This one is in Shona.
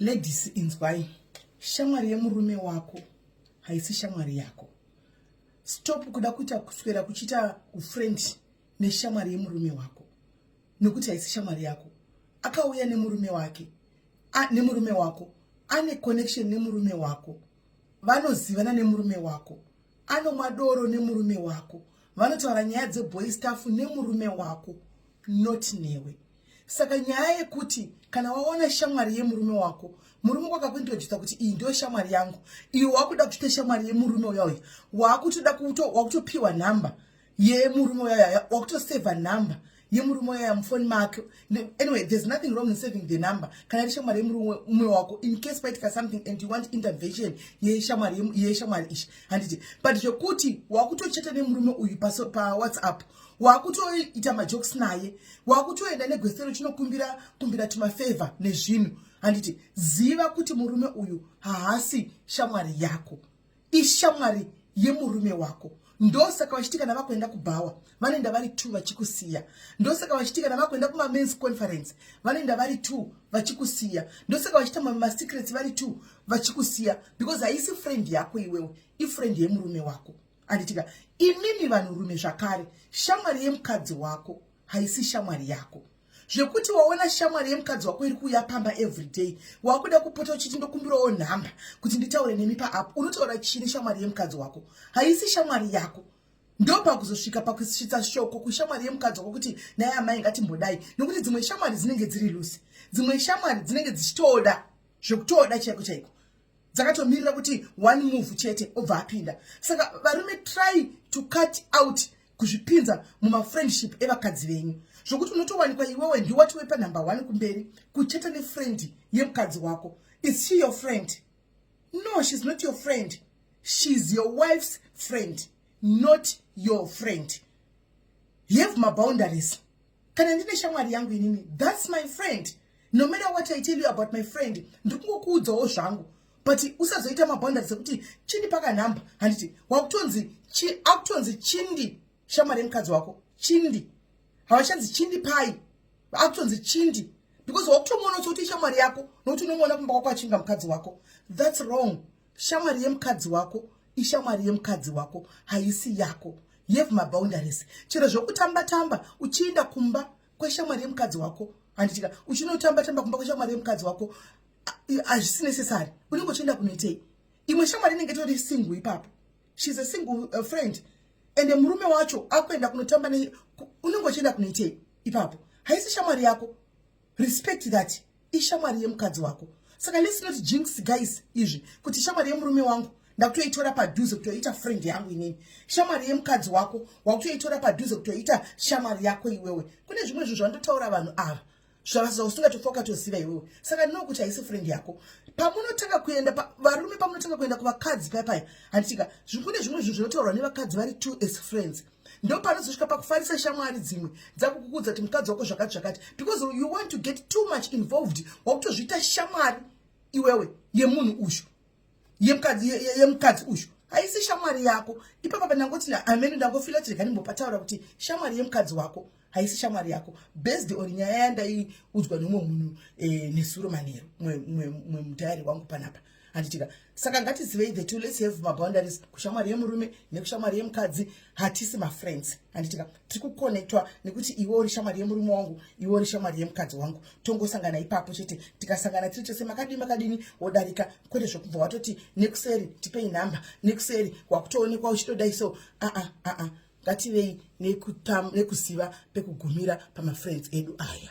Ladies inzwai, shamwari yemurume wako haisi shamwari yako. Stop kuda kuita kuswera kuchiita ufriend neshamwari yemurume wako nokuti haisi shamwari yako. Akauya nemurume wake a, nemurume wako ane connection nemurume wako, vanozivana nemurume wako, anomwa doro nemurume wako, vanotaura nyaya dzeboy staff nemurume wako, not newe. saka nyaya yekuti kana waona shamwari yemurume wako murume kwakakuintrodusa kuti iyi ndiyo shamwari yangu iyo wakuda kuchita shamwari yemurume uya uya wakutoda wakutopiwa nhamba yemurume uya uya wakutosevha nhamba yemurume uya mufoni make anyway there's nothing wrong in saving the number kana iri shamwari yemurume wako in case paitika something and you want intervention yeshamwari yeshamwari ishi handiti but zvekuti wakutochata nemurume uyu pawhatsapp pa wakutoita majokes naye wakutoenda negwesero chinokumbira kumbira tumafavor nezvinhu handiti ziva kuti murume uyu haasi shamwari yako ishamwari yemurume wako ndosaka vachiti kana vakuenda kubhawa vanoenda vari two vachikusiya ndosaka vachiti kana vakuenda kumamens conference vanoenda vari two vachikusiya ndosaka vachita masecrets vari two vachikusiya because haisi friend yako iwewe ifriend yemurume wako anditika imimi vanhurume zvakare shamwari yemukadzi wako haisi shamwari yako zvekuti waona shamwari yemukadzi wako iri kuuya pamba everyday wakuda kupota uchiti ndokumbirawo nhamba kuti nditaure nemi paapo unotaura chini shamwari yemukadzi wako haisi shamwari yako ndopakuzosvika pakusvitsa shoko kushamwari yemukadzi wako kuti naye amai ngatimbodai nokuti dzimwe shamwari dzinenge dziri lusi dzimwe shamwari dzinenge dzichitoda zvekutoda chaiko chaiko dzakatomirira kuti one move chete obva apinda saka varume try to cut out kuzvipinza mumafriendship evakadzi venyu zvokuti unotowanikwa iwewe ndiwati wepanumber one kumberi kucheta nefriend yemukadzi wako is she your friend no she's not your friend she's your wife's friend not your friend have maboundaries kana ndine shamwari yangu inini thats my friend no matter what i tell you about my friend ndikungokuudzawo zvangu but usazoita maboundaries ekuti chindi pakanhamba handiti wakutonzi akutonzi chindi shamwari yemukadzi wako chindi havachanzi chindi pai akutonzi chindi because wakutomuona kuti ishamwari yako nokuti unomuona kumba kwako achinga mukadzi wako thats wrong shamwari yemukadzi wako ishamwari yemukadzi wako haisi yako you have maboundaries chero zvekutamba tamba uchienda kumba kweshamwari yemukadzi wako handitika uchinotamba tamba kumba kweshamwari yemukadzi wako hazvisi necessary unenge uchienda kunoitei imwe shamwari inenge tori single ipapo she's a single uh, friend ende murume wacho akuenda kunotamba ne unenge uchienda kunoitei ipapo haisi shamwari yako respect that ishamwari yemukadzi wako saka let's not jinx guys izvi kuti shamwari yemurume wangu ndakutoitora padhuze kutoita friend yangu inini shamwari yemukadzi wako wakutoitora padhuze kutoita shamwari yako iwewe kune zvimwe zvinhu zvandotaura vanhu ava zvausingatofokatoziva iwewe saka ndino kuti haisi friend yako pamunotanga kuenda varume pamunotanga kuenda kuvakadzi paya paya handitika kune zvimwe zvinhu zvinotaurwa nevakadzi vari two as friends pa, ndo panozosvika pakufarisa shamwari dzimwe dzakukukudza kuti mukadzi wako zvakati zvakati because you want to get too much involved wakutozviita shamwari iwewe yemunhu uyu yemukadzi uyu haisi shamwari yako ipapa panangoti amene ndangofila kuti rega ndimbopataura kuti shamwari yemukadzi wako haisi shamwari yako based on nyaya yandaiudzwa neumwe munhu e, nesuro manheru mwe mudhayari wangu panapa handitika saka ngatizivei the two let's have maboundaries kushamwari yemurume nekushamwari yemukadzi hatisi mafriends handitika tiri kuconnectwa nekuti iwe uri shamwari yemurume wangu iwe uri shamwari yemukadzi wangu tongosangana ipapo chete tikasangana tiri tese makadini makadini wodarika kwete zvekubva watoti nekuseri tipei nhamba nekuseri wakutoonekwa uchitodai so aa ah, aa ah, aa ah, ngativei nekuziva pekugumira pamafriends edu aya